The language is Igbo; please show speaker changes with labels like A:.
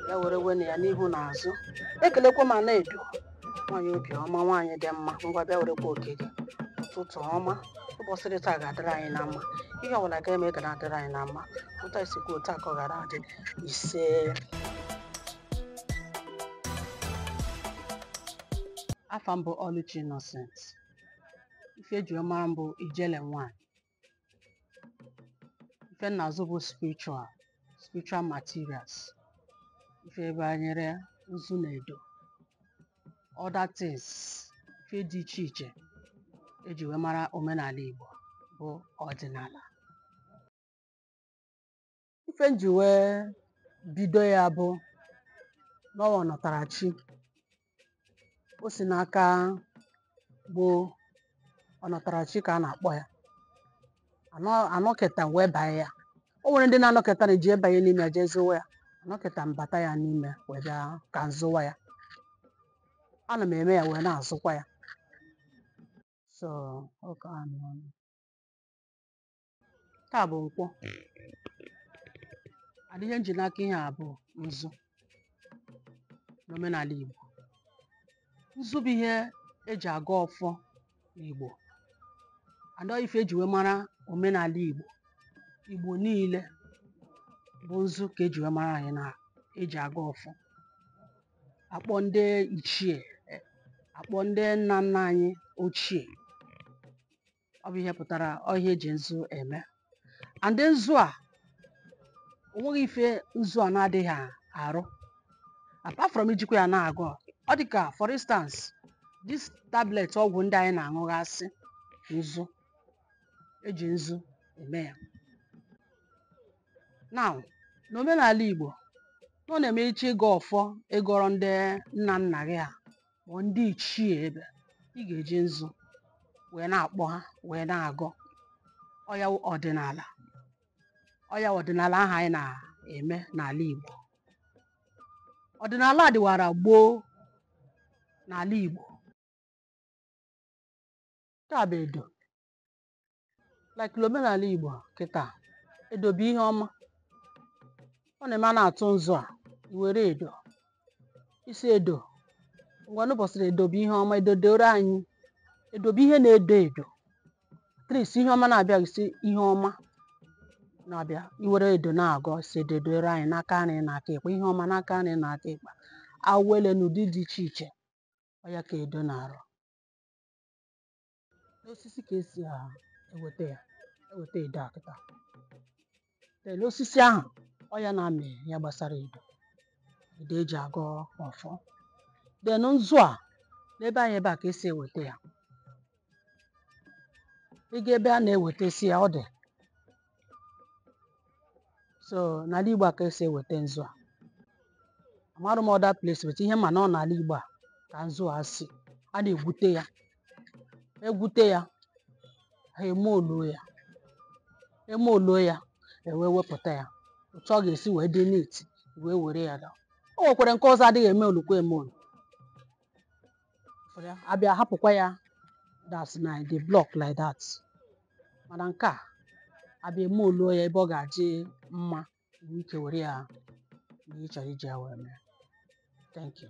A: ya were wena ya n'ihu na azụ ekelekwa m Ana Edo nwaanyị obi ọma nwaanyị dị mma ngwa bịa werekwa oke gị ụtụtụ ọma ụbọchị dị taa ga-adịrị anyị na mma ihe ọbụla ga-eme ga na-adịrị anyị na mma otu anyị si kwuo otu a ka ọ gara adị ise afa m bụ Oluchi Innocent ife eji mara m bụ ijele nwanyị ife m na-azụ bụ spiritual spiritual materials ife banyere nzu na edo other things ife dị iche iche eji wee mara omenala Igbo bụ ọdịnala ife nji wee bido ya bụ na ọ wụ ọnatarachi o si n'aka gboo ọnatarachi ka a na-akpọ ya Anọ- anọketa m wee banye ya o nwere ndị na-anọketa na eji ebanye n'ime ya jee zụwa ya anọketa m bata ya n'ime wee bịa ka m zụwa ya ana m eme ya wee na-azụkwa ya so ọ ka anọ taa bụ nkwọ and ihe nji n'aka ihe a bụ nzu n'omenala Igbo nzu bụ ihe eji agọ ọfọ n'Igbo and ife eji wee mara omenala Igbo Igbo niile bụ nzu ka eji wee mara anyị na eji agọ ọfọ akpọ ndị ichie akpọ ndị nna nna anyị ochie ọ bụ ihe pụtara ọ ihe eji nzu eme and nzu a o nweghị ife nzu a na-adịghị arụ apart from ijikwa ya na-agọ ọ dị ka for instance this tablet ọgwụ ndị anyị na-aṅụghasị nzu eji nzu eme ya now n'omenala Igbo na ọ na-eme ị chọọ ịgọ ọfọ ịgọrọ ndị nna nna gị ha ma ndị ichie ebe ị ga-eji nzu wee na-akpọ ha wee na-agọ ọ ya wụ ọdịnala ọ ya wụ ọdịnala ahụ anyị na-eme n'ala Igbo ọdịnala a dịwara gboo n'ala Igbo nke a bụ edo like omenala Igbo kịta edo bụ ihe ọma ọ na-eme a na-atụ nzu a i were edo ị sị edo ngwa n'ụbọchị edo bụ ihe ọma edo doro anyị edo bụ ihe na-edo edo that is ihe ọma na-abịa ị sị ihe ọma na-abịa i were edo na-agọ sị edo doro anyị n'aka nri na aka ekpe ihe ọma n'aka nri na aka ekpe awele n'ụdị dị iche iche ọ ya ka edo na-arụ n'osisi ka esi a eweta ya eweta edo a kịta then osisi ahụ ọ ya na-amị ya gbasara edo edo eji agọ ọfọ then nzu a n'ebe anyị ebe a ka esi eweta ya ị gaa ebe a na-ewetasị ya ọ dị so n'ala Igbo a ka esi eweta nzu a amarụ m other place but ihe m ma na ọ n'ala Igbo a ka nzu a si a na-egwute ya egwute ya ha emoluo ya emoluo ya ewee wepụta ya otu ọ ga-esi wee dị neat wee were ya daa o nwekwara nke ọzọ adịghị emolukwa emolu For ya, abịa hapụkwa ya that's na the block like that mana nke a abịa emoluo ya ebe ọ ga-adị mma nwee ike were ya na ị chọrọ iji ya wee mee thank you